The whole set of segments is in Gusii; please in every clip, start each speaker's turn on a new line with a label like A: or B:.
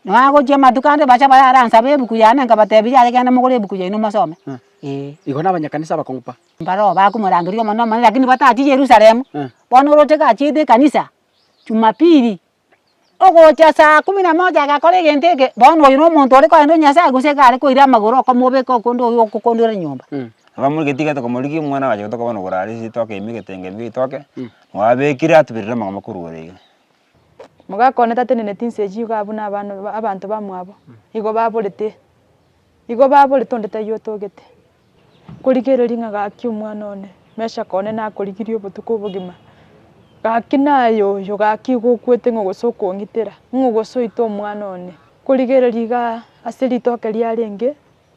A: Na agochia amatuko ande bacha bayaranse ab'ebuku yane, nkabatebiria, Aye genda mogore ebuku yaino mosome. Ee. Igo nabanyakanisa bakong'upa. Mbaroo bakomorangeria Omonene omonene, lakini batachie Yerusalemu. Bono oroche gachiete ekanisa, Jumapili, ogocha saa kumi na moja agakora egento eke, bono oyo nomonto ore koenda o Nyasaye gose iga are koira amagoro okomobeka okonde oyio okokondora enyomba. Nabo muri getigete komorigia omwana agacha gotoka bono oborara ase ritoke ime egetenge ime ritoke, nabo abekire atuberire amang'ana korwa ore iga. Mogakwana tateneneti inse echi igo abwo nabana abanto bamwabo igo baborete igo baborete onde taiyo otogete. Korigereria ng'a gaki omwana one mesakaa one nakorigirie obotuko obogima, gaki naye oyo gaki igo okwete ng'a gose okong'itera ng'a gose oite omwana one. Korigereria igaa ase ritoke riarenge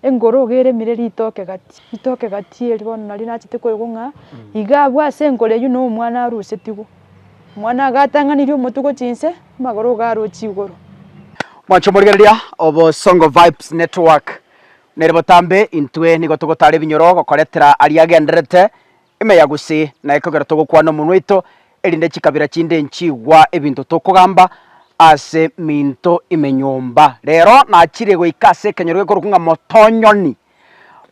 A: Engoro iga eremire ritoke gati, ritoke gati eri bono nario nachete koigwa ng'a iga abwo ase enkoro eyio na omwana arusetigwe. Omwana agatang'anirie omotuko chinse, amagoro iga arochi igoro. Mwancha omorigereria, Obosongo Vibes Network nere botambe, intwe nigo togotara ebinyoro gokoretera aria agendererete Ime ya gose na ekogera togokwana omonwa oito, erinde chikabira chinde nchigwa ebinto tokogamba ase minto ime nyomba. Rero nachire goika ase ekenyoro gekorokwa ng'a Motonyoni.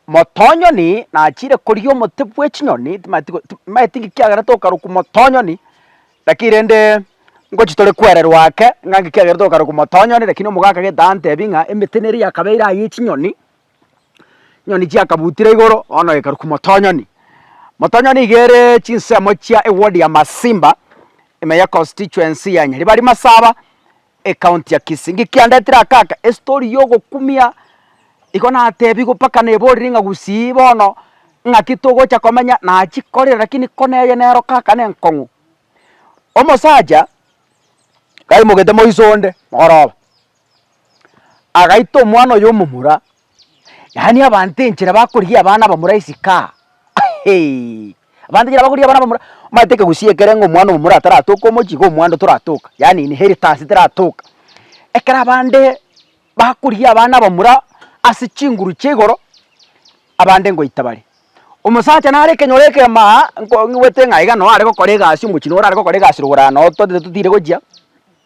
A: Motonyoni nachire koria omote bw'echinyoni, timanyeti go ti timanyeti inki kiagerete okarokwa Motonyoni, lakini rende ngochi tore kwererwa ake ng'a inki kiagerete okarokwa Motonyoni, lakini omoga akagenda antebi ng'a emete neri yakabeire aye echinyoni. Chinyoni chiakabutire igoro bono ekarukwa motonyoni. Motonyoni iga ere chinsemo chia eward ya Masimba, ime ye constituency ya Nyaribari Masaba, ecounty ya Kisii. Ng'ki kiandetire aka aka, estory ya ogokumia, igo natebiwe mpaka neborire ng'a gusii bono ng'aki togocha komenya nachikorire lakini ko neye nero kaka nenkong'u. Omosacha, kaimoketie moiso onde, mogoroba. Agaita omwana oyo omomura, yaani abanto enchera bakorigia abana abamura esika heeii, abanto enchera bakorigia abana abamura, omanyete ekegusii ekere ng'a omwana omomura ataratoka omochie iga omwando toratoka, yaani inheritance teratoka, ekero abande bakorigia abana abamura ase chinguru chia igoro, abande ngoita bare. Omosacha nare ekenyoro ekemaa aa, nko ng'wete ng'a iga noo are gokora egasi omochie noo orare gokora egasi rogoro aa noo totete totiire gochia.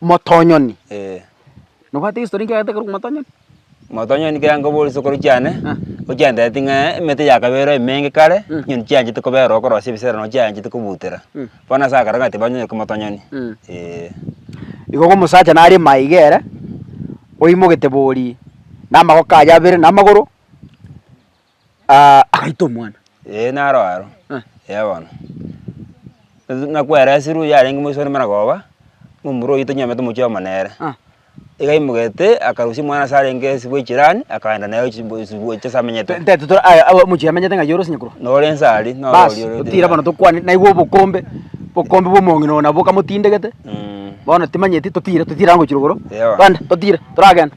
A: Motonyoni. Eh. Nobwate egestory nkiagete ekero korwa motonyoni? Motonyoni kera nkobore chisokoro chiane, Ah. ochiandereti ng'a emete yakaberwa emenge kare, Mm. chinyoni chianchete kobera okorosia ebisera nabo chianchete kobutera. Mm. Bono ase agakora ng'a tibanywoire korwa motonyoni. Mm. Eh. Igo igo omosacha nare maiga ere, oimogete bori na amagoko aye abere na amagoro, Ah, agaita omwana. Ee, naro aro. Eh. Ee bono. Ase nakwera esiri oyio arenge moiso ore Maragoba, na omura oyio tonywenerete omochie nere. Ah. Igaimogete, akarusia omwana ase arenge ase bwa echirani, akaenda naye gochi bo- ase gocha ase amenyete. Nte toto aya awo omochie amenyete ng'a yorosie nyakorwa. Nore ense aria, noro Bas, oria ore- otira bono tokwane, naigwe obokombe, bokombe bwa omong'ina oyo nabo okamotindegete, Mm. bono timanyeti, totire, totire ango gochia rogoro. Ewa. Twende, totire, toragenda.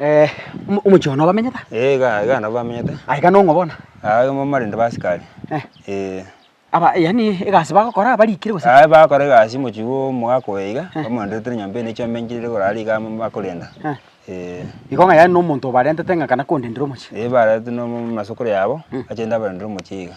A: Eh, omo- omochie oo nobamenyete? Eh, iga iga nabo bamenyete. Ah, iga nong'o bono? Ah, iga bamarende ba asikari. Eh. Eh. Aba yaani egasi bagokora barikire gose? Aye bagokora egasi mochie bwa omogaka oyo iga, bamorenderetere nyomba eye na echiombenchiri ere igoro aria iga amo bakorenda. Eh. Eh. Igo ng'a yaani na omonto obarentete ng'a kana kondendere omochie? Eh, baretete na omo- omo- masokoro yabo, bachende abarendere omochie iga.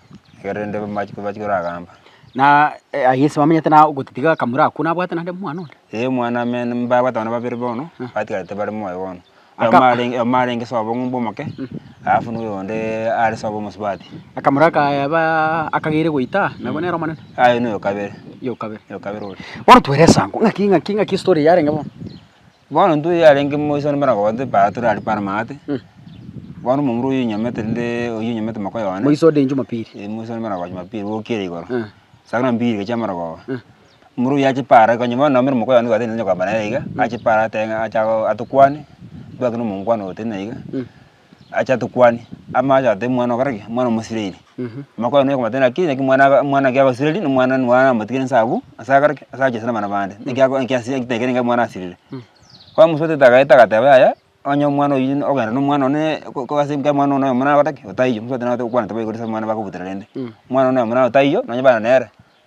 A: Ekero rende bamachiko bachia koragamba. Na aye Yeso bamenyete na ogotitiga akamura akwo nabwate naende omwana onde. Ee omwana amene mbabwate abana babere bono, batigarete bare moyo bono. Aka- Oyomo arenge oyomo arenge sobo ng'umba omoke, alafu nigo oyonde are sobo omosubati. Akamura akayebaaa akagere goita nabo nere omonene. Aye noyo kabere, Yo kabere. yo kabere oria. Bono twere esango ng'aki ng'aki ng'aki estory eyarenge bono. Bono intwe yarenge moise bono mbare kogote para tore aria para amagati, bono omomura oyio onyamete rende oyio onyamete makoyo one. Moise ode Jumapili. Eh, moise one mara kogoa Jumapili bokire igoro. Eh. Saa buna mbili egecha mara kogoa. Eh. Omomura oyio ache para konya bono nabo mere mokoyo one gwateneine nonya kwabana nere iga, ache para atebe ng'a acha go atokwane, twake na omongwana ogo totenena iga. acha tokwane amache atebe mwana okora ki mwana omosirairi amakwana noyo okomotebia naki naki mwana aga mwana naki agosireri na mwana na mwana namotigire nse abwo ase akore ki ase achesie na abana bande naki ako naki asiri naki takerenge mwana asirire bono omosuete tagaete agateba yaya onye omwana oyio ne ogenda na omwana one ko ko ase nka mwana one oyomo nagotaki otaiyo omosuete nagote gokwana taba igoro ase abana bakobutera rende mwana one oyomo naye otaiyo nonye bana nere.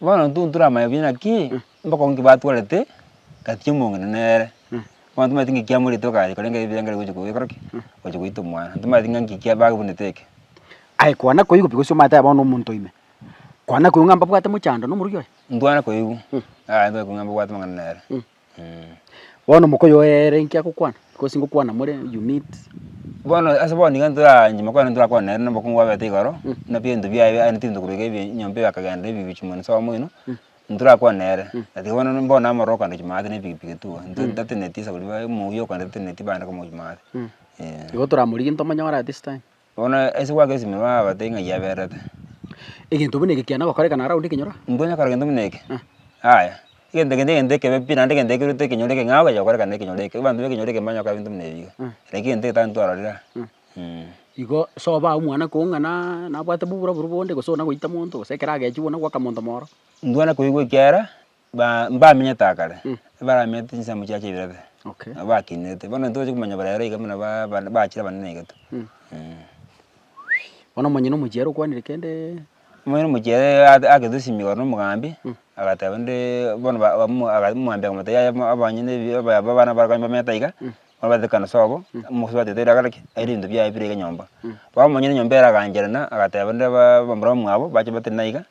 A: Bono intwe ntoramanye buya ng'aki mbokong'u ki batwarete gati omong'ina nere. Bono tomaeti ng'aki kiamorete okacha korenge ebibe biaye gocha goikora ki? Gocha goita omwana. Tomaeti ng'a ng'aki kiababunete eke. Aye kwana koigwa pi gose omateba bono omonto ime? Kwana koigwa ng'a mbabwate mochando na omoruki oye? Intwe kwana koigwa, aye intwe koigwa ng'a mbabwate amang'ana nere. Bono mokoyoo oyeere inki agokwana? Because ngokwana more you need. Bono ase bono iga ntoraanche mokwana ntorakwane nere na obokungu bwabete igoro, na ebinto biaye biaye aneti ebinto korwa iga ebi nyomba eye akagenda na ebibichu mono nse oyomo oino, ntorakwane nere. But iga bono mbore namororo okogenda gochia maate na epikipiki tua, nto ntateneti ase koria bae mouya okogenda tateneti bande komogochia maate, eh. Igo toramorigie ntomonyore at this time. Bono ase goaka esimi babatebie ng'a yaberete. Egento buna eke kiana gokorekana around ekenyoro? Mbwenerete gokora egento buna eke? Yaya. Egento eke negento ekebe pi naende egento ekerorete ekenyoro eke ng'a okonya gokorekana nekenyoro eke. Abanto b'ekenyoro eke mbanyare gokora ebinto buna ebi iga. Lakini egento eke tari ntwarorire aa, eeh. Igo sobae omwana koo ng'a naa nabwate boburaburo bonde gose onagoita monto gose ekero agechwe bono goaka monto mororo. Mbwenerete koigwa ekiara Ba, mbamenyete akare, ebaramenyete chinsemo chiacha ibere, Okay. nabo bakinete. Bono ntoche komanya bare ero iga buna ba, ba- bachire abanene iga to. Mm. Mm. Bono omonyene omochiere okwanire kende? Omonyene omochiere ag- agete esimi igoro na omogambi, agateba nde, bono ba- ba- mo- aga- omogambi akamotebia yaya mo- abanye na ebi- aba- aba- abana baria bamenyete aiga, bono batete ekero sobo, omosubati otebete ere agare ki, aire ebinto biaye bire iga nyomba. Bono omonyene enyomba ere agancherana, agateba nde ba- abamura bamwabo, bache batari naiga,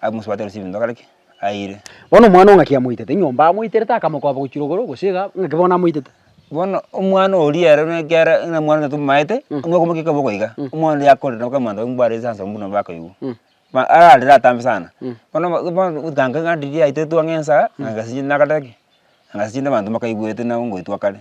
A: abe omosubati ore ase ebinto agare ki, aire. Bono omwana o ng'aki amoitete nyomba, amoiterete akamokoba gochia rogoro, gose iga, ng'aki bono amoitete. Bono omwana oria ere buna ekiara buna mwana oria tomomaete, buna okomokia ekeboko iga, omwana oria akorire nabo kera monto mbware ase ensemo buna bakoigwa. Ma ararire atambe sana. Bono obo bono otanke ng'a riria aitwe twang'ensa, ng'a gasi chinde nakatare ki? Ng'a gasi chinde abanto mbakaigwete nabo ngoitwa kare.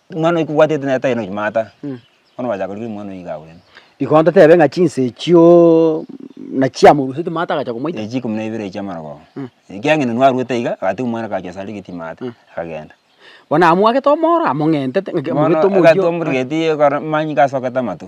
A: Omwana oyo kobwatete naye tari nonya maata, bono bachaka korigera omwana oyo iga agwene. Igo ntotebe ng'a chinsa echio nachiamorusetie maata agacha komoita? Echi ikomi na ibere echio amarogoba. Ekiagera inwe narwete iga, agatebia omwana kacha ase arigetie maata, akagenda. Bono amwagete omoro among'entete ng'aki amorwete omochie oo. Bono egatuomorigetie ekero amanyinga asokete amato.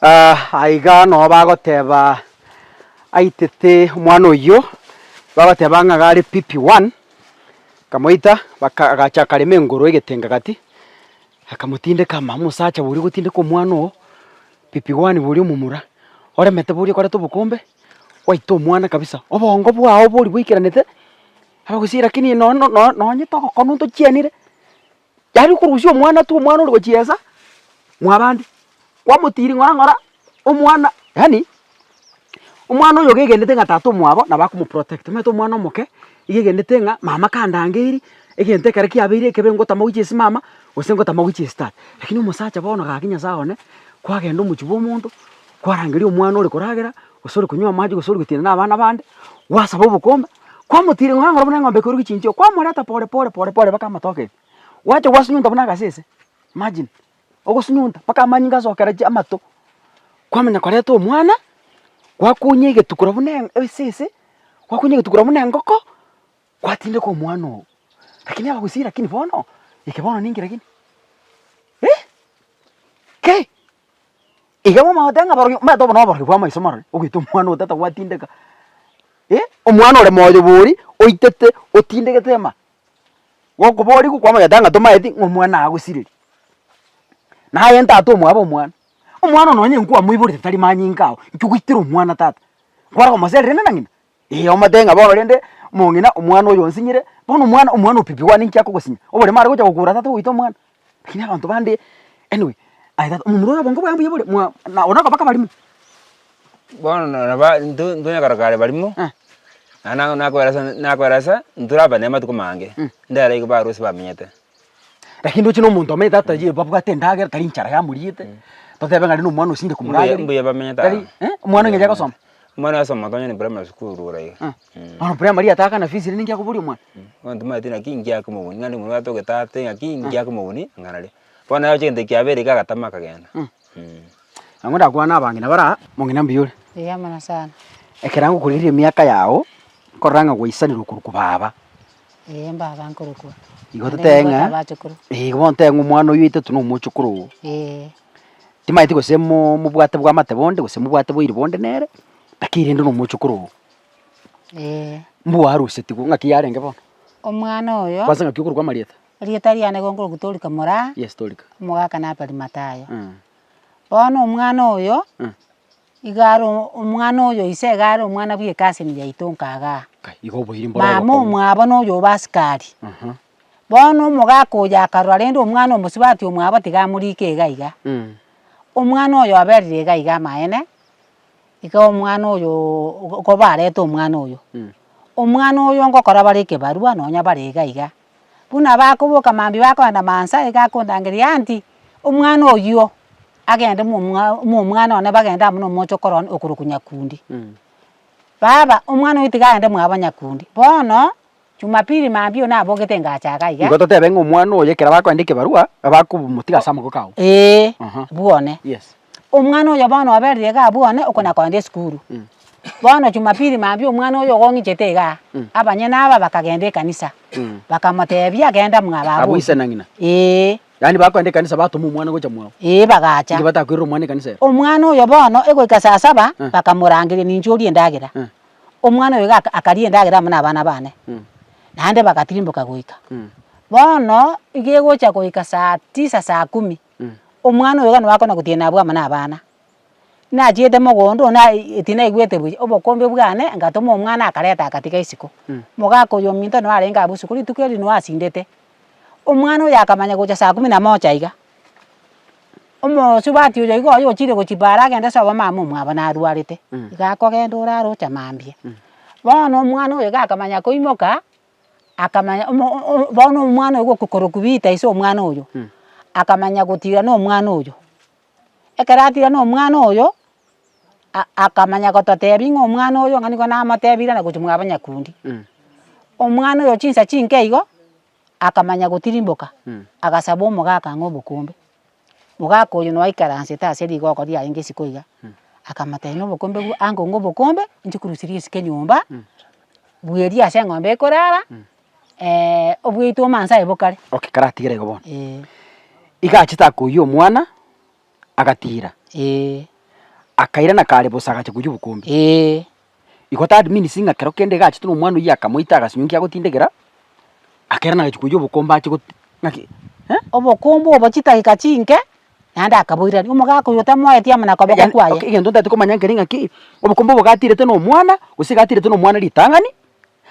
A: Aiga noo bagoteba aitete omwana oyio, bagoteba ng'a gare pipi one, akamoita baka agacha akarema engoro egetenga gati, akamotindeka ama omosacha oria ogotindeka omwana oo, pipi one boria omomura, oremete boria okoreta obokombe, gwaita omwana kabisa, obongo bwao bori bwaikaranete, agagusii rakini nono no nonye togokonu tochianire. Yaani okorusia omwana tu omwana ore gochiesa mwabande. Kwamotiri ng'ora ng'ora omwana yaani omwana oyo gegenete ng'a tata omwabo nabo akomoprotect omanyete omwana omoke iga egenete ng'a mama kandangeirie egento ekero kiabeire ekebe ngotama goichia ase mama gose ngotama goichia ase tata. Lakini omosacha bono gaki Nyasae one kwagenda omochie bwa omonto. kwarangeria omwana ore koragera, gose ore konywa amache, gose ore gotiana na abana bande, gwasaba obokombe, kwamotira eng'ombe onye buna eng'ombe eke ore gochinchia oo, kwamoreta pore pore pore pore mpaka amatoke ime, gwacha gwasunyunta buna agasese, imagine, ogosunyunta mpaka amanyinga asokera chi amato, kwamanya koreta omwana, gwakunyia egetuko korwa buna esese, gwakunyia egetuko korwa buna engoko. Gwatindeka omwana oo, lakini abagusii lakini bono eke bono ninki lakini? Eh! Ki? Iga bamagote ng'a aborogio omanyete obo noborogio bw'amaiso marore ogwita omwana oo tata gwatindeka. Eh! Omwana ore moyo bori oitete otindegete ema gokoborigu kwamanyete ng'a tomaeti ng'a omwana agosireri. Naye ntata omwabo omwana, omwana oo nonye nkwamoiborete tari manyinga ao, inki ogoitera omwana tata? Nkware komoserera inde na ng'ina? Ee, omotebie ng'a bono rende mong'ina omwana oyo onsinyire, bono omwana omwana opipi wane inki akogosinya? Oborimo aregocha gokura tata ogoita omwana. Lakini abanto bande anyway aye tata omomura oyo obongo bwaye mbuya bore mwa na ore okobaka abarimo. Bono na nabo a intwe intwe onyakorokana are barimo, Eh. naende nang'o nakoera ase nakoera ase intwe tore abanene amatuko mange, ndairobi barusi bamenyete. Lakini ndoche nomonto omanyete ataye babwate endagera tari enchara yamoriete totebe ng'a aria nomwana osinge komorageri Mbuya- mbuya bamenyete tari aa. eh, omwana onye agosoma Omwana oyosoma gose onye ne primary school igoro iga ah, Mm. bono primary yataka na fees rende ninki akoboria omwana Abanto mbaete naki ngiake omobuni naende omobwate ogetate naki ngiake omobuni ng'a naria. Bono naye oche egento kiabeire iga agatama akagenda. Nabo ndakwane abange na bara mong'ina mbuya ore. Eeh amana sana. Ekero ngokorigereria emiaka yao, nkorora ng'a gwaisanerwa okorokwa baba. Eeh mbaba nkorokwa. Igo totebe ng'a. Abachokoro. Eeh igo bono totebe ng'a omwana oyio oetete nomochokoro oo. Eeh. Timaeti gose mo- mobwate bwamate bonde gose mobwate boiri bonde nere, lakini rende nomochokoro oo. Eeh. Mbwa arusetigwe, ng'aki yarenge bono? Omwana oyo. Kwansa ng'aki okorokwa amarieta? Erieta riane gokoroku Dorika mora Yes, Dorika. omogaka na Abarimatayo. Eh. Bono omwana oyo, Eh. iga are o- omwana oyo ise iga are omwana bwe ecousin yaito nkagaa. Kai, igo oboiri mboro Mama obokong'u. omwabo na oyo obe askari. Aha. Bono omogaka oyo akarora rende omwana omosubati omwabo tiga amorike iga iga. Mm. Omwana oyo oberire iga iga amaene, iga omwana oyoo kobarete omwana oyo. Mm. Omwana oyo ngokora bare ekebarua nonya bare iga iga. Buna bakoboka mambia bakogenda Maasai iga akondangeria aunty omwana oyio agende omwana one bagende amo nomoche okoro one okorokwa Nyakundi. Baba omwana oyio tiga agende mwabo Nyakundi. Bono Jumapili mambia oyio nabogete engacho iga iga. Nigo totebe ng'a omwana oyo ekero bakogenda ekebarua, bakomotiga ase amagoko ao. Ee, Aha. bwone. Yes. Omwana oyo bono oberire igaa bwane okona kogenda esukuru. Bono jumapili mambia omwana oyo ogong'ichete igaa, abanyene aba bakagenda ekanisa, bakamotebia genda mwa babu. Abwo ise na ng'ina. Eeh. Yaani bakogenda ekanisa batoma omwana gocha mwao. Eeh bagacha. Inki batakoirera omwana ekanisa ero? Omwana oyo bono egoika saa saba, bakamorangeria ninche orie endagera. Omwana oyo iga akaria endagera amo nabana bane. Naende bagatirimboka goika. Bono iga egocha goika saa tisa saa kumi, Omwana oyo gani wakona gotiena abwo amo nabana? Nachiete mogondo ona eti naigwete buya, obokombe bwane ngatoma omwana akareta agatiga isiko. Mogaka oyo ominto noo arenge abwo isiko rituko erio noo asindete. Omwana oyo akamanya gocha saa kumi na moja iga, omosubati oyo iga oyo ochire gochimba are agende ase obomama omwabo narwarete, iga akogenda orarocha mambia. Bono omwana oyo iga akamanya koimoka, akamanya omo o- bono omwana oyo gokokorokwa Peter ase omwana oyo, akamanya gotirana omwana oyo. Ekero atirana omwana oyo, a- akamanya gototebia ng'a omwana oyo ng'a nigo namotebire na gochia mwaba nyakundi. Omwana oyo chinsa chinke igo, akamanya gotirimboka, agasaba omogaka ang'e obokombe. Mogaka oyio noaikaransete ase rigoko riaye ngesiko iga, akamotebia na obokombe bwa ango ng'a obokombe, inche korusia riesike enyomba, bweria ase eng'ombe ekorara, obweito omoanso aye bokare. Okay karatigere igo bono. Eeh. Iga achete akoiyia omwana, agatiira. Eeh. Akairana kare bosa agacha koiyia obokombe. Eeh. Igo that means ng'a kero kende egachete na omwana oyio akamoita agasunyunkia agotindegera, akere nagachia koiyia obokombe ache goti ng'aki eh. Obokombe obo chidageka chinke naende akaboirania, omogaka oyo tamoeti amo na akoboko Egean- kwaye. ok, egento ntaete komanya nkere ng'aki, obokombe obo gatirete na omwana, gose gatirete na omwana ritang'ani.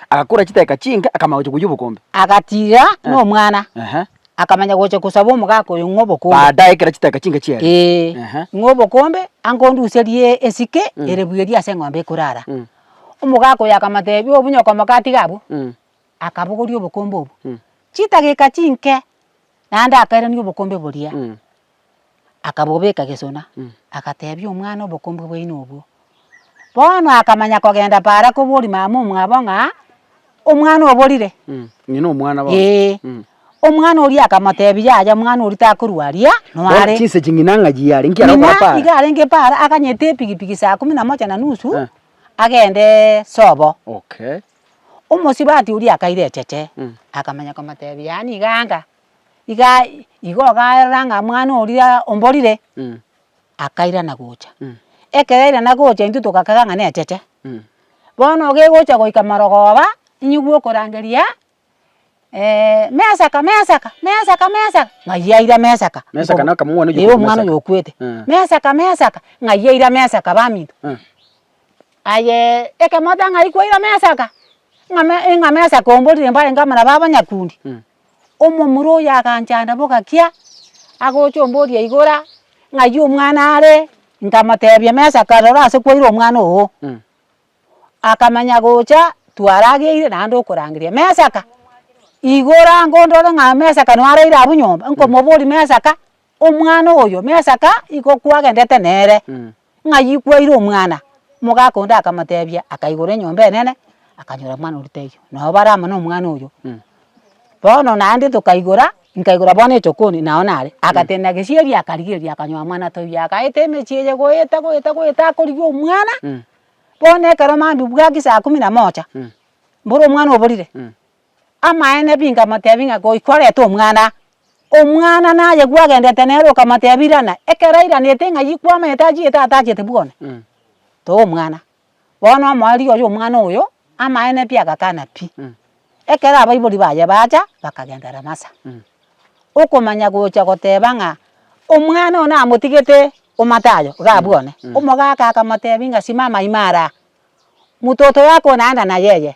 A: agakora chiteka chinke, akamanya gocha koyia obokombe. Agatiga nomwana, Ehe. akamanya gocha kosaba omogaka oyo ng'a obokombe. Baadaye ekero chiteka chinke chiaria. Ee, Ehe. ng'a obokombe, angonduserie esike ere buya eria ase eng'ombe ekorara. Mm. Omogaka oyo akamotebia, obunyoka omoka atiga abwo, Mm. akabogoria obokombe obwo. Mm. Chidageka chinke, naende akairania obokombe boria. Mm. akabobeka gesona, agatebia omwana obokombe bwaino obwo. Bono akamanya kogenda paaro akoboria mama omwabo ng'a omwana oborire. Ng'ina omwana bono. Ee. Mm. Omwana oria akamotebia yaya omwana oria takorwa aria Bono nore. chinsa echi ng'ina ng'a chiare, nki aragokora Ng'ina paaro? iga arenge paaro aganyete epigipigi saa kumi na moja na nusu, Eh. agendeee sobo. Okay. Omosibati oria akaira echeche, akamanya komotebia yaani iga anga. igaa igo ogaerora ng'a mwana oria omborire, akairana gocha. Ekero airana gocha intwe togakaga ng'a necheche, bono iga egocha goika marogoba, inywe okorangeria mesaka mesaka mesaka mesaka, ng'ai aira mesaka. Mesaka na okamanya omwana oyio Ee omwana oyo okwete, mesaka mesaka, ng'ai aira mesaka baminto. Ayee ekemo oteba ng'ai kwaira mesaka, ng'a me ing'a mesaka omborire mbarenge abana ba abanyakundi, Omomura oyo aganchanda bogakia, agocha omboria igora, ng'ayio omwana are? Nkamotebia, mesa kaa rora ase kwaire omwana oo. Akamanya gocha twarageire naende okorangeria, mesa kaa? Igora ngondore ng'a mesa kaa naraire abwo nyomba, nkomoboria mesa kaa? Omwana oyo Mesaka igo kwagendete nere, ng'ayio kwaire omwana, omogaka onde akamotebia, akaigora enyomba enene, akanyora omwana oria taiyo, nabo bare amo nomwana oyo. Bono naende tokaigora, nkaigora bono esokoni nao nare, agatenena gesieri akarigereria akanyoa mwana toiyo, agaeta emechie eye goeta goeta goeta akorigia omwana, bono ekero mambia bwaki saa kumi na moja, mboro omwana oborire, Amaene bingamotebia ng'a goika orete omwana, omwana naye gwagenderete nere okamotebia irana, ekero airanete ng'a yi kwamanyete achiete tata achiete bwona, toa omwana. Bono omoa rirorio omwana oyo, amaene pi agakana pi. Ekero abaibori baye bacha, bakagenda Ramasa, okomanya gocha goteba ng'a omwana oyo namotigete o Matayo, igaa bwone, omogaka akamotebia ng'a simama ime araa, mototo yako naenda nayeye.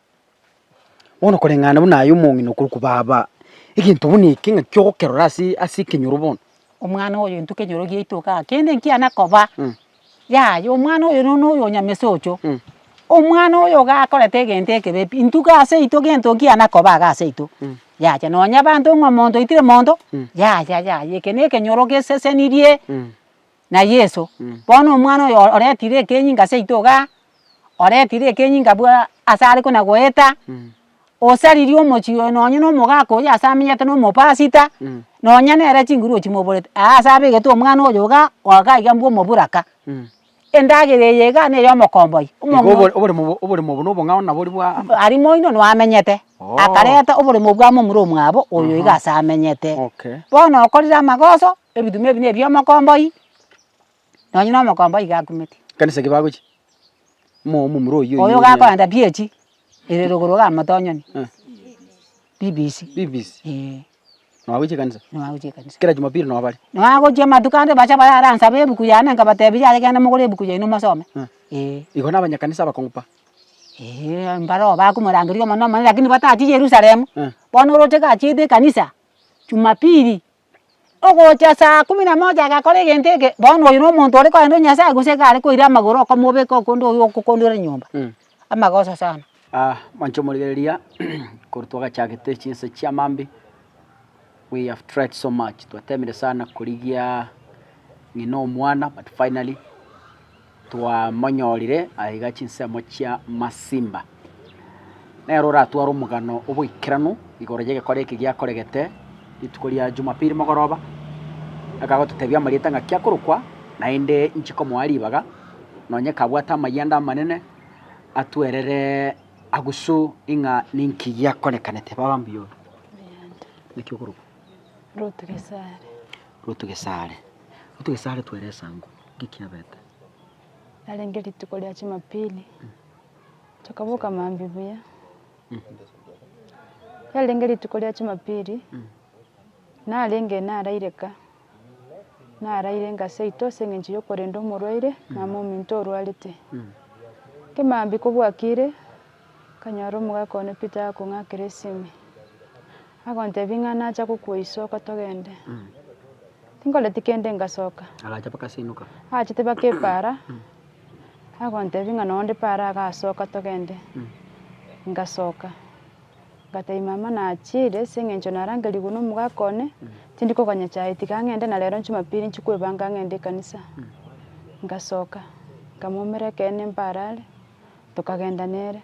A: Bono koreng'ana buna aye omong'ina okorokwa baba, egento buna eke ng'a ki ogokerora ase ase ekenyoro bono. Omwana oyo intwe ekenyoro giaito igaa, kende nkiana koba, yaya omwana oyo nonya oyo nyamese ocho, omwana oyo iga akorete egento ekebe pi, intwe iga ase aito gento nkiana koba iga ase aito, yaya nonya abanto ng'a omonto oitire monto, yaya yaya eke na ekenyoro gesesenirie. na Yeso, bono omwana oyo oretire ekenyinga ase aito igaa, oretire ekenyinga bwa ase are kona goeta, osaririe omochie oyo nonye na omogaka oyio ase amenyete na omopasita, nonya nere chinguru ochimoborete, aa ase abegete omwana oyo igaa, goika iga mbwa omoburaka. Endagera eye igaa nere omokomboia, omong'ina. oboremo obo oboremo obo na obong'ao nabo ori bwa. Aria moino noo amenyete, Oh. akareta oboremo bwa momura omwabo oyo iga ase amenyete. Okay. Bono okorire amagoso, Ebituma ebi nebia omokomboi, nonye na omokomboi iga akumeti. Ekanisa eke bagochia, mo omomura oyio Oyo gakoenda PH ere rogoro iga motonyoni. Eh. BBC. BBC. Eeh. Noagochia ekanisa? Noagochia ekanisa. Kera jumapili nobare? Noagochia amatuko ande bache bayaransabe ebuku yane nkabatebi yaya genda mogore ebuku yaino mosome. Eh. Eeh. Igo na abanyakanisa abakong'u pa. Eeh mbaroo bakomorangeria omonene omonene lakini batachie Yerusalemu. Eh. Bono oroche gachiete ekanisa, jumapili. Ogocha saa kumi na moja agakora egento eke, bono oyo nomonto ore korenda Nyasaye gose iga are koira amagoro okomobeka okonde oyio okokondera nyomba, amagoso sana. Mwancha omorigereria, korwa twagachagete chinse chia Mambi, we have tried so much, twateemire sana korigia ng'ina omwana but finally. Twamonyorire aiga chinsemo chia Masimba. Nere oratware omogano oboikeranu igoro y'egekore eke giakoregete rituko ria Jumapili mogoroba, akagototebia amarieta ng'a kiakorokwa, naende inche komoa ribaga, nonye kabwate amayanda amanene, atwerere agusu ing'a ninki giakorekanete. Baba mbuya ore. Naki okorokwa? Rutu Gesare. Rutu Gesare. Rutu Gesare twere esango. ngekiabete. Yarenge rituko ria Chimapili, tokaboka maambia buya. Yarenge rituko ria Chimapili, narenge naraire ka, naraire ngaseitwa ase eng'encho y'okorenda omorwaire, mama ominto orwarete. Kemaambia kobwakire, Akanyora omogaka one Peter agakong'akera esimi, agontebia, Ing'ana nacha gokwa iso oko togende? Tinkoreti kende ngasoka. Agacha bakasenoka. Agachete baka epaara, agontebia, Ing'ana onde paara agasoka togende. Ngasoka. Ngatebia, Mama nachiire ase eng'encho narangerigwe nomogaka one, tindi koganya chae, tiga ng'ende na rero Jumapili nchi kwebanga ng'ende ekanisa. Ngasoka, nkamoumera ekeene mbare are. Tokagenda nere,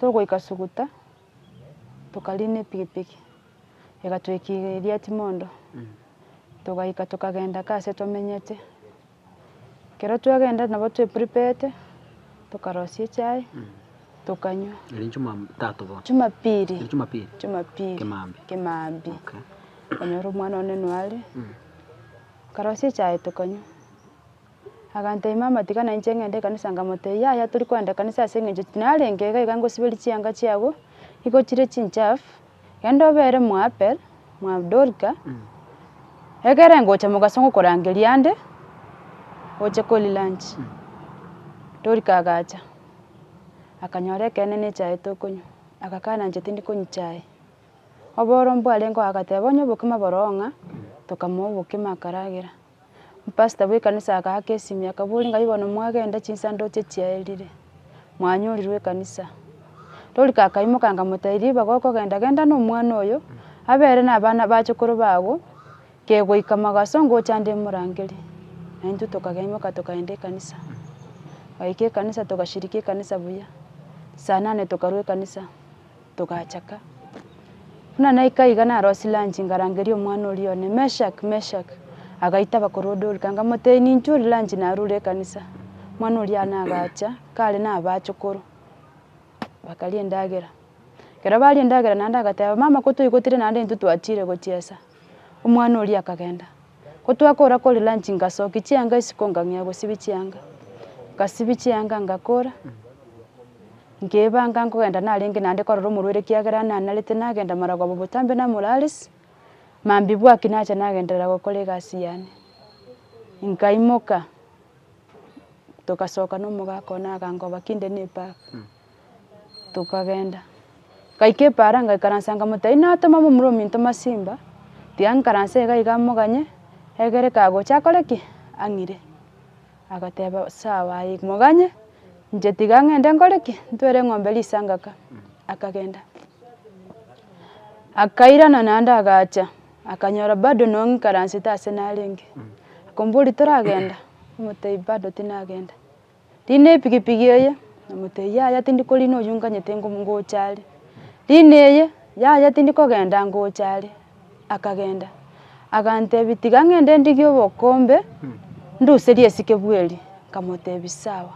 A: togoika Suguta, tokariina epigipigi, egatoikiria eriati mondo, togaika tokagenda kaa ase twamenyete. Ekero twagenda nabo twe prepete, tokarosia echae, tokanywa. Eri juma tatu bono. Jumapiri. Eri Jumapiri. Jumapiri. Kemambia. Kemambia. Okay. Okonyora omwana one noare. Okarosia echae tokanywa. Aganteima amatika na inche ng'ende ekanisa nkamotebia, Yaya tori kogenda ekanisa ase engencho ki? Narenge iga iga ngosiberie chianga chiago, nigo chire chinchafu, genda obere mw'Abel, mwa Dorika, egere ngocha mogaso ngokorangeria ande, oche kori lunch. Dorika agacha, akanyora ekeene na echae tokonywa, agakana inche tindi konywa chae. Oboro mbwarengeo agateba, onye obokima boroo ng'a, tokamoa obokima akaragera. Omopastor bw'ekanisa agaaka esimi akaboria ng'ai bono mwagenda chisanduche chiaerire, mwanyorirwe ekanisa? Torigo akaimoka nkamotebia ribaga okogenda genda na omwana oyo, abere na abana bachukuru bago, kegoika magaso ngocha nde morangerie. Naintwe tokageimoka tokagenda ekanisa, twaika ekanisa togashiriki ekanisa buya, saa nane tokarwa ekanisa. togachaka. Buna naika iga narosie lunch ngarangeria omwana oria one, Meshak, Meshak! Agaita abakorwa Dorika nkamotebia, ninche oria lunch narure ekanisa. Omwana oria nagacha, kare naba achokoro, bakaria endagera. Ekero baria endagera naende agateba, mama ko toigotire naende intwe twachire gochiesa. Omwana oria akagenda. Ko twakora koria lunch ngasokia chianga isiko ngang'ea gosibia chianga. Ngasibia chianga ngakora. Nkebanga nkogenda narenge naende korora omorwere ekiagera nanarete nagenda maragwa abo botambe namoraaris, mambia bwaki nacha nagenderera gokora egasi yane. Nkaimoka togasoka nomogaka one agankoba kinde nepaara, tokagenda. Gaika epaara ngaikaransa nkamotebia inatoma momura ominto masimba, tiga nkaranse iga iga moganye, egere kagocha akore ki? Ang'ire. Agateeba, Sawa aye, moganye, inche tiga ng'ende nkore ki? Ntwere eng'ombe risangaka. Akagenda. Akairana naende agacha, akanyora bado nonye ng'ikaransete aase narenge. Akombori toragenda? Omotebia bado tinagenda. Rina epigipigi eye, omotebia yaya tindi korina oyio nganyete ngocha are. Rina eye, yaya tindi kogenda ngocha are. Akagenda, agantebi, Tiga ng'ende ndigie obokombe, nduserie esike bweri. Nkamotebi, Sawa.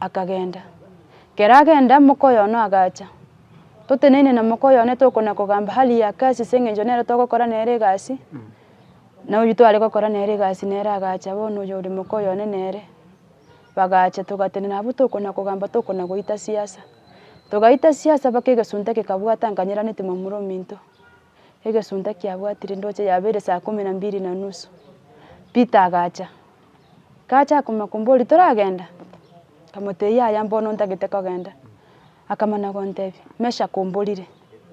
A: Akagenda. Ekero agenda, moka oyo one agacha. Toteneine na moka oyo one tokona kogamba hali ya kazi ase eng'encho nere togokora nere egasi, na oyio tware gokora nere egasi nere agacha bono oyo ore moka oyo one nere. Bagacha togatenena abwo tokona kogamba tokona goita siasa. Togaita siasa mpaka egesunte kekabwata nkanyeranitie momura ominto. Egesunta kiabwatire ndoche yaba ere saa kumi na mbili na nusu, Peter agacha. Gacha akamanya komboria toragenda? Nkamotebia yaya mbono ntagete kogenda. Akamana gontebia, Meshack omborire,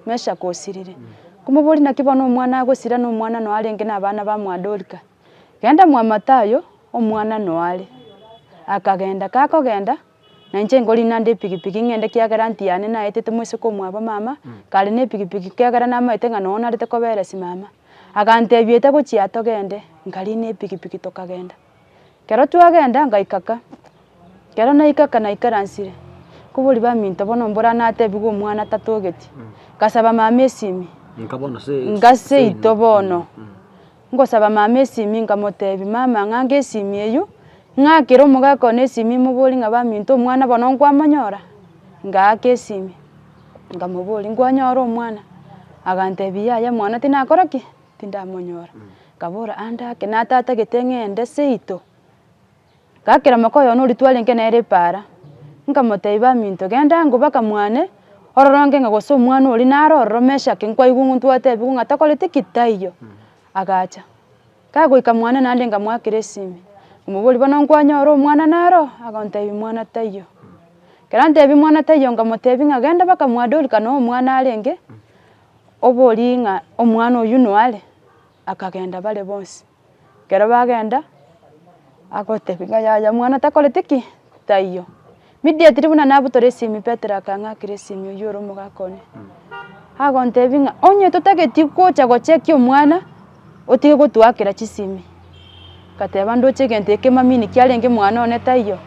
A: Meshack osirire. Nkomoboria naki bono omwana agosira na omwana noyo arenge na abana ba mwa Dorika? Genda mwa Mathayo, omwana noyo are. Akagenda, gakogenda, Na inche nkorina nde epikipiki ng'ende ekiagera anti yane naetete moiseke omwabo mama, kare na epikipiki ekiagera namaete ng'a nonya narete koberesi mama. Agantebia ete gochia togende, nkarina epikipiki tokagenda. Kero twagenda ngaika ka, kero naika ka naikaransire, kobori baminto bono mbora natebigwe omwana tatogeti, ngasaba mama esimi, ngase ito bono. Ngosaba mama esimi nkamotebi, mama ng'anka esimi eyio, ng'akera omogaka one esimi imobori ng'a baminto omwana bono nkwamonyora? Ngaaka esimi, nkamobori nkwanyora omwana? Agantebi yaya mwana tinakora ki? Tindamonyora. Nkabora ande ake natata gete ng'ende seito. Gakera mokoy'one oria twarenge nere epaara, nkamotebia, Baminto, genda ang'o baka mwane ororonge ng'a gose omwana oria nare ororo Meshaki, nkwaigwa ng'o twatebiwa ng'a takoreti ki taiyo. Agacha. Kagoika mwane naende nkamoakera esimi, nkamoboria, Bono nkwanyora omwana naro? Agontebia, Mwana taiyo. Ekero antebia mwana taiyo nkamotebia ng'a genda baka mwa Dorika noo omwana arenge, oborie ng'a omwana oyio noare. Akagenda bare bonsi. Ekero bagenda, agotebia ng'a yaya omwana takoreti ki? Taiyo. Immediately buna nabu tore esimi Petero akang'akera esimi oyio ore omogaka one, agontebia ng'a onye totageti gocha gocheki omwana, otige gotoakera chisimi. Ngateba ndoche egento eke mamini ki arenge mwana one taiyo.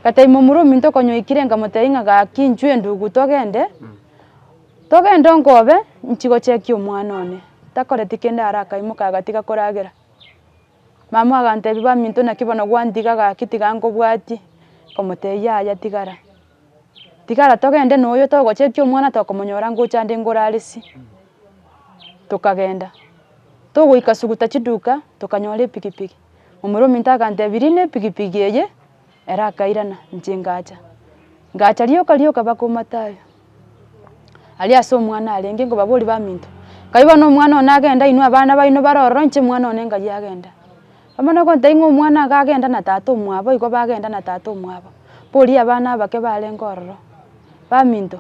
A: Ngatebia momura ominto okonyoikire nkamotebia ng'a gaki inchuo endugu togende. Togende onkobe, inchi gochekia omwana one. Takoreti kende are akaimoka agatiga koragera. Mamae agantebia baminto naki bono gwantiga gaki tiga nkobwatie, nkomotebia yaya tigara. Tigara togende noyo togochekia omwana tokomonyora ngocha ande ngoraresie. Tokagenda, togoika suguta chiduka, tokanyora epikipiki. Omorwa ominto agantebia riina epikipiki eye, Ere akairana, Inche ngacha. Ngacha rioka rioka mpaka Omatayo. Aria ase omwana arenge nkobaboria baminto, nkabi bono omwana one agenda inwe abana baino bare ororo inche omwana one nkayi agenda. Abana bagontebia ng'a omwana iga agenda na tata omwabo igo bagenda na tata omwabo, mboria abana abake barenge ororo. Baminto,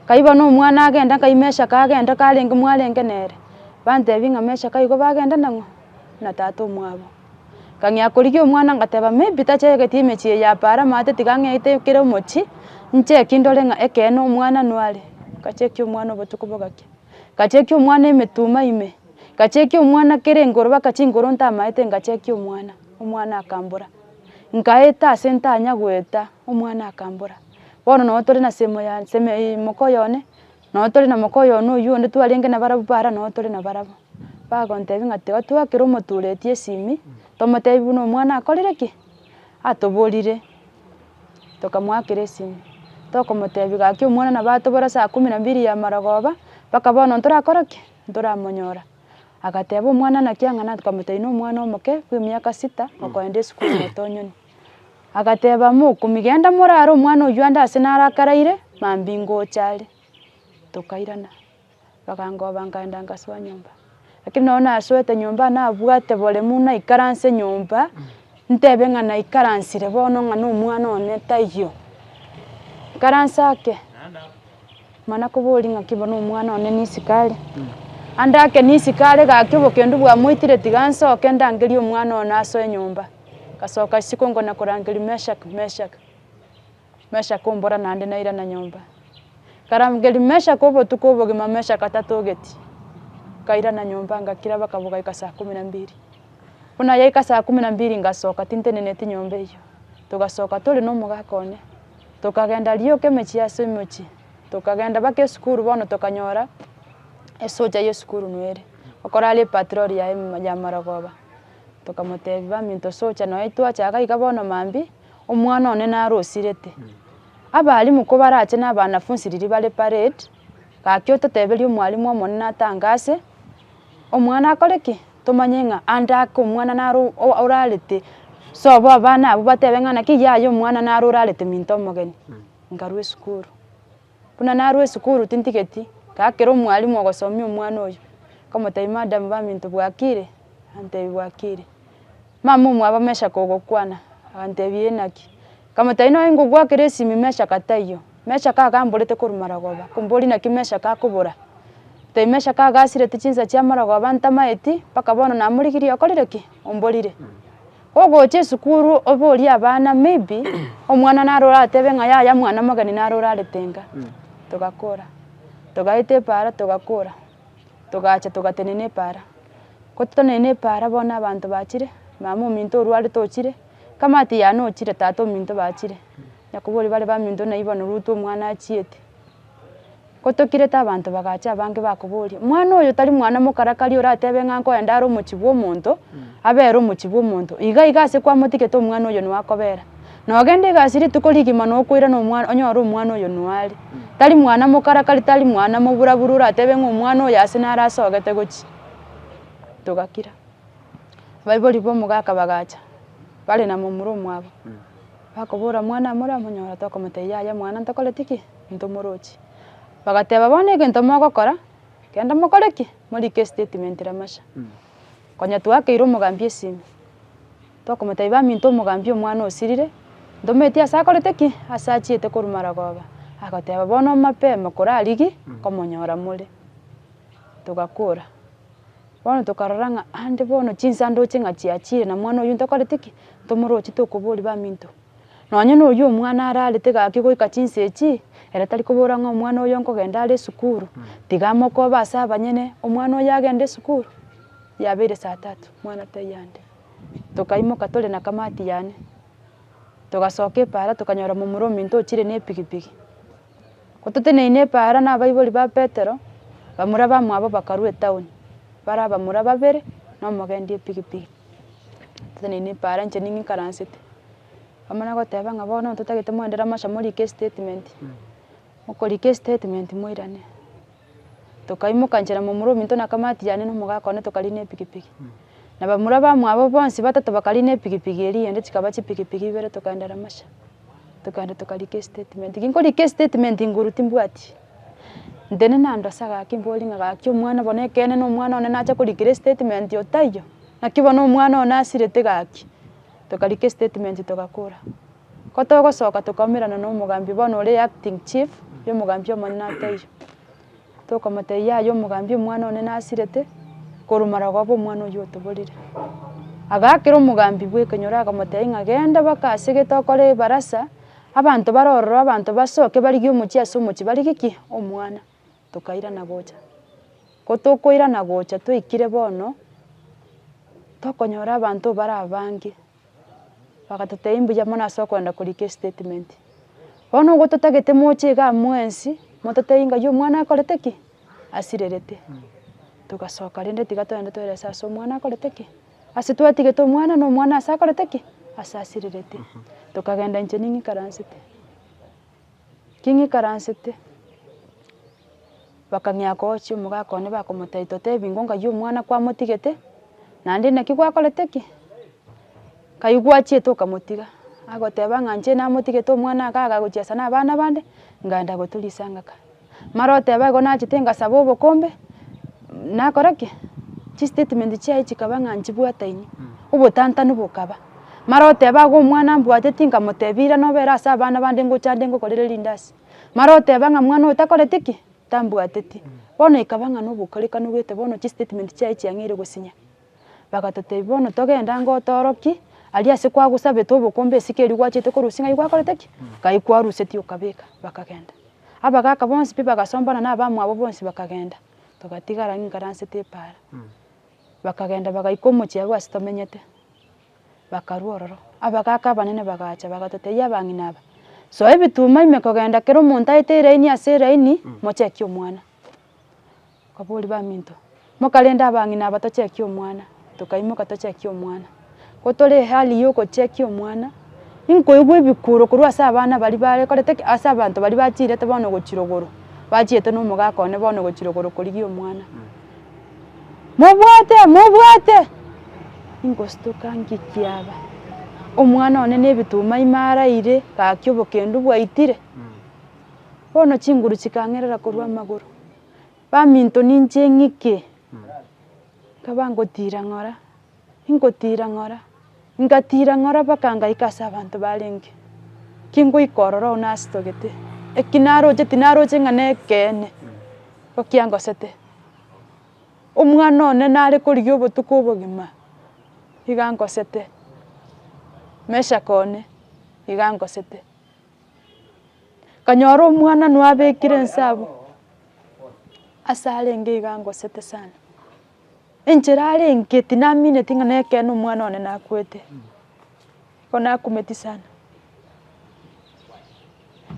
A: nkayi bono omwana agenda nkayi Meshack agenda karenge mwarenge nere, bantebia ng'a Meshack igo bagenda nang'o? Na tata omwabo. Ng'ang'ea korigia omwana ngateba, Maybe tachaegeti emechie eye apa are amaate tiga ang'eite kera omochie, ncheki ndore ng'a ekeene omwana nware. Nkachekia omwana obotuko bogachia, nkachekia omwana emetuma ime, nkachekia omwana kera engoro baka chingoro ntamaete nkachekia omwana, omwana akambora. Nkaeta ase ntanya goeta, omwana akambora. Bono nabo tore na semo ya nsemo eye moka oyo one, Nabo tore na moka oyono oyio onde twarenge nabarabwo para nabo tore nabarabwo. Bagontebia ng'a tiga twakera omoturetie esimi, tomotebie buna omwana akorire ki? Atoborire. Tokamoakera esimi, tokomotebia gaki omwana nabo atobora saa kumi na mbili ya marogoba, mpaka bono ntorakora ki? Ntoramonyora. Agateba omwana naki ang'ana tokamotebia na omwana omoke bw'emiaka sita okoenda esukuru motonyoni. Agateba, Mokumia, genda morare omwana oyio ande ase naro akaraire, mambia ingocha are. Tokairana, bakangoba nkagenda ngasoa nyomba. Lakini nonye nasoete nyomba nabwate boremu naikaranse nyomba, ntebe ng'a naikaransire bono ng'a na omwana one taiyo. Nkaranse ake, mana koboria ng'aki bo na omwana one nisiko are. Ande ake nisiko are gaki obokendu bwamoitire tiga nsoke ndangerie omwana one asoe nyomba. Ngasoka isiko nkona korangeria Meshaki, Meshaki, Meshaki ombora naende nairana nyomba. Nkarangeria Meshaki obotuko obogima Meshaki atatogeti. Nkairana nyomba ngakira bakabo gaika saa kumi na mbiri. Buna yaika saa kumi na mbiri ngasoka tinteneneti nyomba eyio. Togasoka tore na omogaka one. Tokagenda rioka emechie ase omochie. Tokagenda baka esukuru bono tokanyora esocha y'esukuru noere. Okorara epatirori yaye ya marogoba. Tokamotebia, Baminto socha nonya titwachaka iga bono mambi, omwana one narosirete. Abalimu kobarache na abanafunsi riria bare parade, gaki ototeberie omwalimu omonene atange ase, omwana akore ki? Tomanye ng'a ande ake omwana naro o- o- orarete, sobo abana abwo batebe ng'a naki yaya omwana naro orarete minto omogeni. Nkarwa esukuru. Buna narue esukuru tintigeti, ngakera omwalimu ogosomia omwana oyo, nkamotebia madam baminto bwakire? Akantebia bwakire. Mama omwabo amechaka ogokwana, akantebia inaki? Nkamotebia nonye ngogwakera esimi mechaka taiyo, mechaka iga mborete korwa marogoba, komboria naki mechaka akobora? Akantebia mechaka iga asirete chinsa chia marogoba ntamaeti, mpaka bono namorigirie okorire ki? Omborire. Ogocha esukuru oborie abana maybe omwana naro oratebe ng'a yaya mwana omogeni naro orarete nka. Togakora, togaeta epara togakora, togacha togatenena epara. Gototenena epara bono abanto bachire, mama ominto orwarete ochire, kamati yane ochire, tata ominto bachire. Nyakoborie bare baminto naibo barwa orutwe omwana achiete. Gotokirete abanto bagacha abange bakoboria, Mwana oyo tari mwana mokarakari oratebe ng'a nkoenda are omochie bw'omonto, abere omochie bw'omonto? Iga iga ase kwamotigete omwana oyo noe akobera. Na ogende iga ase rituko rigima na okoirana omwana, onyore omwana oyo noe are. Tari mwana mokarakari, tari mwana moburabura oratebe ng'a omwana oyo ase nare asogete gochia. Togakira. Abaibori b'omogaka bagacha, bare na momura omwabo. Bakobora, Mwana amore amonyora, tokomotebia, Yaya mwana, ntokoreti ki? Ntomorochi. Bagateba, Bono egento mogokora, genda mokore ki? Morike estatement Ramasha. Konya twakeire omogambi esimi, tokomotebia, Baminto omogambi omwana osirire, ntometie ase akorete ki? Ase achiete korwa Maragoba. Agoteba, Bono mapema kore arigie komonyora more. Togakora. Bono tokarora ng'a ande bono chinsa ndoche ng'a chiachire na mwana oyio ntokorete ki, ntomoroche tokoboria baminto. Nonye na oyio omwana ararete gaki goika chinsa echi, ere tari kobora ng'a omwana oyo nkogenda are esukuru, tiga amokobe ase abanyene, omwana oyo agende esukuru, yabeire saa tatu, omwana tai ande. Tokaimoka tore na kamati yane, togasoka epaara tokanyora momura ominto ochire na epigipigi. Goteteneine epaara nabaibori ba Petero, bamura bamwabo bakarua etaoni, bare abamura babere na omogendia epigipigi. Toteneine epaara inche nigo nkaransete, bamana goteba ng'a bono totagete moendere amasha morike estatement, okorika estatement moirane. Tokaimoka nchera momura ominto na kamati yane na omogaka one tokariina epikipiki. Na bamura bamwabo bonsi batato bakariina epikipiki eria eyende chikaba chipikipiki ibere tokaenda Ramasha. Tokaenda tokarika estatement. Nkinkorika estatement nguru timbwati ntene nando ase gaki mbori ng'a gaki omwana bono ekeene na omwana one nacha korikera estatement otaiyo. Naki bono omwana one asirete gaki. Tokarika estatement togakora. Ko togosoka tokaumerana na omogambi bono ore acting chief yo omogambi omonene na teiyo. Tokomotebia yaya omogambi omwana one nasirete korwa maragoba omwana oyio otoborire. Agakera omogambi bwe ekenyoro akamotebia ng'a genda baka ase gete okore ebarasa abanto bare ororo abanto basoke barigie omochie ase omochie barigie ki? Omwana. Tokairana gocha. Ko tokoirana gocha toikire bono, tokonyora abanto bare abange, bagatotebia mbuya mono ase okoenda korika estatement. Bono ogo totagete moche igaa mwensi, mototebie ng'a omwana akorete ki? Asirerete. Togasoka rende tiga togende toerese ase omwana akorete ki? Ase twatigete omwana na omwana ase akorete ki? Ase asirerete. Tokagenda inche ning'ikaransete. King'ikaransete, bakang'ea koochia omogaka one bakomotebi totebi ingo ng'ai omwana kwamotigete, naende naki gwakorete ki? Ng'ai gwachiete okamotiga, agoteba ng'a inche namotigete omwana iga agagochia ase na abana abande, ng'enda goturia isanga ka. Mara oteba igo nachete ngasaba obokombe, nakora ki? Chistatement chiaye chikaba ng'a nchibwataini, obotantanu bokaba. Mara oteba igo omwana mbwate tinkamotebia irana obere ase abana bande ngocha ande ngokorere rindasi. Mara oteba ng'a mwana oyo takoreti ki? Tambwateti. Bono ekaba ng'a nobokarekanu gete bono chistatement chiaye chiang'eire gosinya. Bagatotebia, Bono togende ango otorokie, aria ase kwagosabete obokombe esike erio gwachete korusia ng'ai gwakorete ki? Ng'ai kwarusetie okabeka. Bakagenda. Abagaka bonsi pi bagasombana na abamwabo bonsi bakagenda, togatigara ingaransete epaara. Bakagenda bagaika omochie abwo ase tomenyete, bakarwa ororo. Abagaka abanene bagacha bagatotebia abang'ina aba, Soa ebituma ime kogenda kera omonto aete eraini ase eraini, mochekie omwana. Abori baminto, mokarenda abang'ina aba tochekie omwana, tokaimoka tochekia omwana. Ko tore ehali ya ogochekia omwana, nkoigwa ebikuro korwa ase abana baria barekorete ki? Ase abanto baria bachirete bono gochirogorwa, bachiete na omogaka one bono gochirogorwa korigia omwana. Mobwate mobwate! Nkostuka ngikia aba, omwana one na ebituma ime araire, gaki obokendu bwaitire. Bono chinguru chikang'erera korwa amagoro, baminto ninche ng'ike, nkaba ngotiira ng'ora, ingotiira ng'ora, ingatiira ng'ora mpaka ngaika ase abanto barenge, kingoika ororo oo nastogete, eki naroche tinaroche ng'a nekeene, igo kiangosete. Omwana one nare korigia obotuko obogima, iga angosete, Meshack one, iga angosete, Kanyora omwana noyo abekire ense abwo, ase arenge iga angosete sana, enchera arenge tinamineti ng'a na ekeene omwana one nakwete, igo nakumeti sana,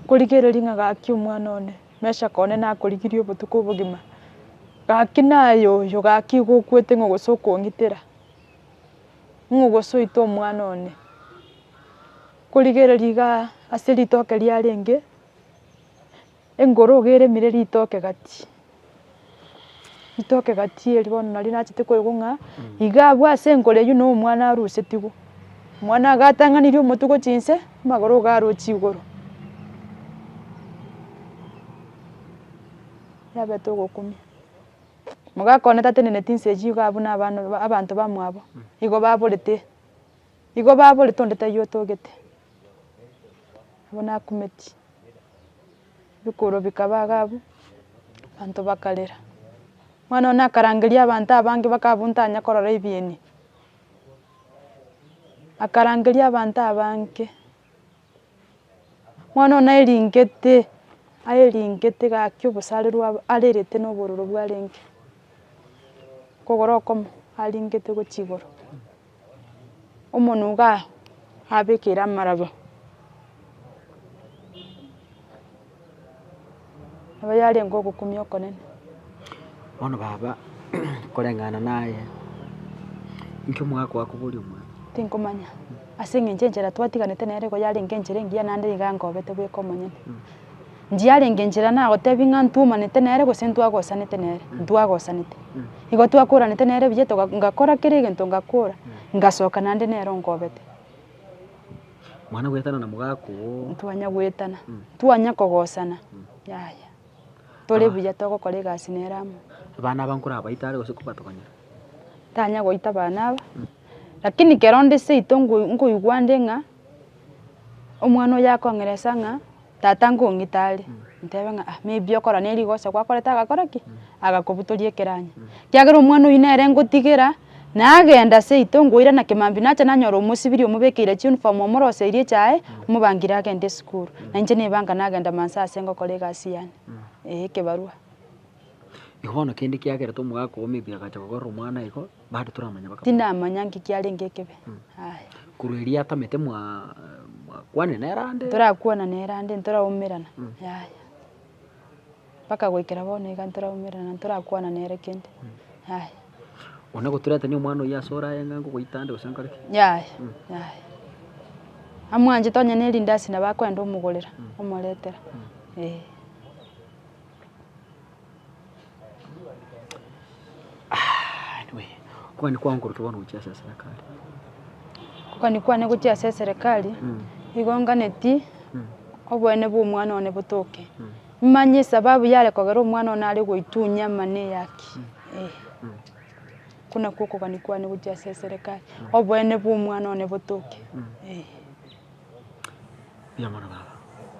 A: korigereria ng'a gaki omwana one, mesha kone nakorigirie obotuko obogima, gaki naye oyo gaki igo okwete ng'a gose okong'itera, ng'o gose oite omwana one. Korigereria iga ase ritoke riarenge engoroge eremire ritoke gati, ritoke gati eri bono nario nachete koigwa ng'a iga agwo ase enkoro eywo na omwana arusetigwe, omwana agatang'anirie omotwe gochia inse, amagoro iga arochi igoro. Yabete ogokumia, mogakoa tateneneti inse eywo iga abwo na abana abanto bamwabo igo baborete. Igo baborete onde taiyo otogete, abwo nakumeti, bikuro bikaba iga abwo, abanto bakarera. Omwana one akarangeria abanto abange mpaka abwo ntanya korora ebieni, akarangeria abanto abange, Mwana one aeringete, aeringete gaki obosarerwe aba arerete na obororo bwarenge, kogoro okomo aringete gochia igoro, omonwe igaa abekeire amaraba. Aba yarenge ogokumia okonene. Bono baba, koreng'ana naye, inki omogaka oo akobori omwana? Tinkomanya, ase eng'encho enchera twatiganete nere nigo yarenge enchera engiya naende nigo ankobete bweka omonyene. Ndiyarenge enchera nagotebi ng'a ntwomanete nere gose ntwagosanete nere, ntwagosanete. Igo twakoranete nere buya toga ngakora kera egento ngakora, ngasoka naende nere onkobete. Mwana goetana na mogaka oo. Ntwanya goetana, ntwanya kogosana, yaya. Tore buya togokora egasi nere amo. Abana aba nkorabaite are gose kobatogonyera? Tanya goita abana aba, lakini kero onde seito nkoigwa nde ng'a omwana oyo akong'eresa ng'a. Tata nkong'ita are, ntebe ng'a ah, maybe okora ne rigoso gwakorete agakora ki? Agakobutoria ekeranya. Kiagera omwana oyio nere ngotigera, nagenda seito ngoirana kemambia nacha nanyora omosibiri omobekeire chiuniform omoroseirie echae, omobangire agende esukuru. Na inche naibanga nagenda mansa ase ngokora egasi yane, eh ekebarua. Igo bono kende kiagerete omogaka oo maybe agacha kokorera omwana igo, Bado toramanya bakabora. Tindamanya nki kiarenge ekebe. Aya. Korwa erio atamete mwa mwakwane nere ande. Torakwana nere ande ntoraumerana. Yaya. Mpaka goikera bono iga ntoraumerana ntorakwana nere kende. Yaya. One goturetania omwana oyio ase oraye ng'a ngogoita ande gose nkore ki? Yaya. Yaya. Amwanchete onye ne erindasi nabo akwenda omogorera omoretera. Ee. Okogania kwane gokorokire bono gochia ase eserekari. Okogania kwane gochia ase eserekari, nigo nganetie oboene bwa omwana one botoke, nimanye esababu yare kogera omwana one are goitunya ama na eyaki, eh. Oko nako okogania kwane gochia ase eserekari, oboene bwa omwana one botoke, eh. Mbuya mono baba.